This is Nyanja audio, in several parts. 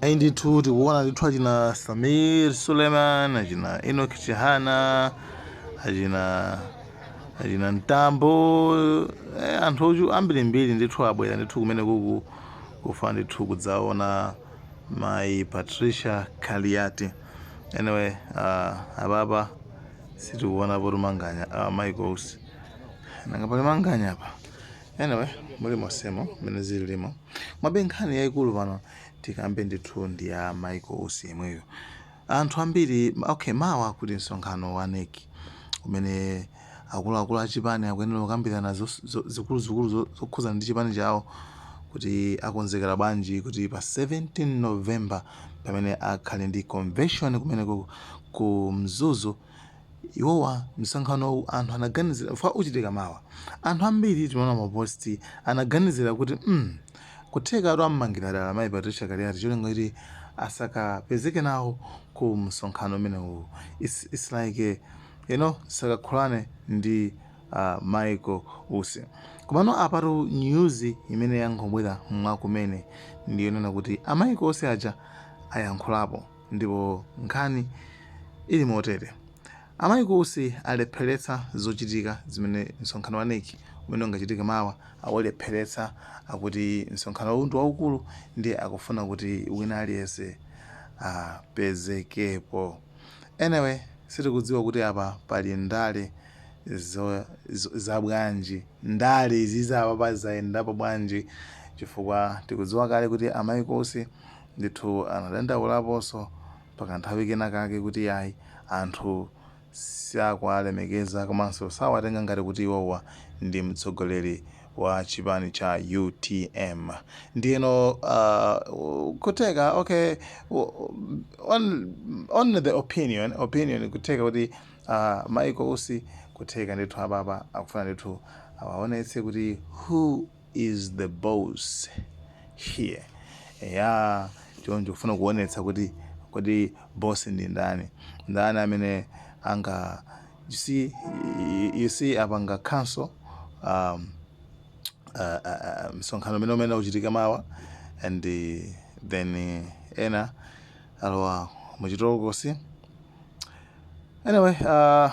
ayi ndithu tikuona ndithu achina samir suleiman achina enok chihana achina achina mtambo eh, anthu ochu ambirimbiri ndithu abwera ndithu kumene kuku kufuna ndithu kudzaona mayi patricia kaliati anyway uh, apapa sitikuona poti manganya uh, michael usi nanga pali manganya apa anyway muli mosemo mmene zili limo Komabe nkhani yaikulu pano tikambe ndithu ndi ya Michael Usi yemweyu. Anthu ambiri okay, mawa kuli msonkhano wa NEC umene akuluakulu a chipani akuyenera kukambirana zikuluzikulu zokhudza ndi chipani chawo kuti akonzekera bwanji kuti pa 17 November pamene akhale ndi convention kumene ku Mzuzu Iwowa msonkhanowu anthu anaganizira chifukwa uchitika mawa. Anthu ambiri timaona ma post anaganizira kuti mm kuthekatu ammangira dala mayi Patricia Kaliati cholinga choti asakapezeke nawo ku msonkhano umenewu its its like you know asakakulane ndi a Michael Usi. Komano apatu news imene yangobwera mwa kumene ndi yonena kuti a Michael Usi aja ayankhulapo. Ndipo nkhani ili motere. A Michael Usi alepheretsa zochitika zimene msonkhano wa nec umene umachitika mawa aulepheretsa. Akuti msonkhanowu ndi waukulu ndiye akufuna kuti wina aliyense apezekepo. Anyway, sitikudziwa kuti apa pali ndale za bwanji. Ndale izizi apapa zayendapo bwanji chifukwa tikudziwa kale kuti a Michael Usi. Ndithu anadandaulaponso pakanthawi kena kake kuti iyayi, anthu sakuwalemekeza komanso sawatenga ngati kuti iwowa ndi mtsogoleri wa chipani cha utm. Ndiyeno uh kutheka okay on the opinion opinion kutheka kuti uh Michael Usi kutheka ndithu apapa akufuna ndithu awaonetse kuti who is the boss here eya choncho kufuna kuonetsa kuti kodi boss ndi ndani ndani amene anga you see, you see apanga cancel um, uh, uh, msonkhano umene umene uchitika mawa and uh, then uh, ena alowa muchitolokosi anyway uh,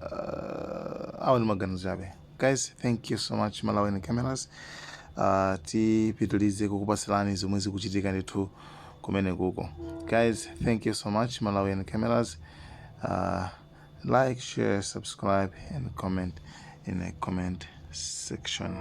uh, awo ndi maganizo chabe Guys, thank you so much Malawian Cameras. Uh, tipitilize kukupasilani zomwe zikuchitika ndithu kumene kuko. Guys, thank you so much Malawian Cameras. Uh, like, share, subscribe and comment in the comment section.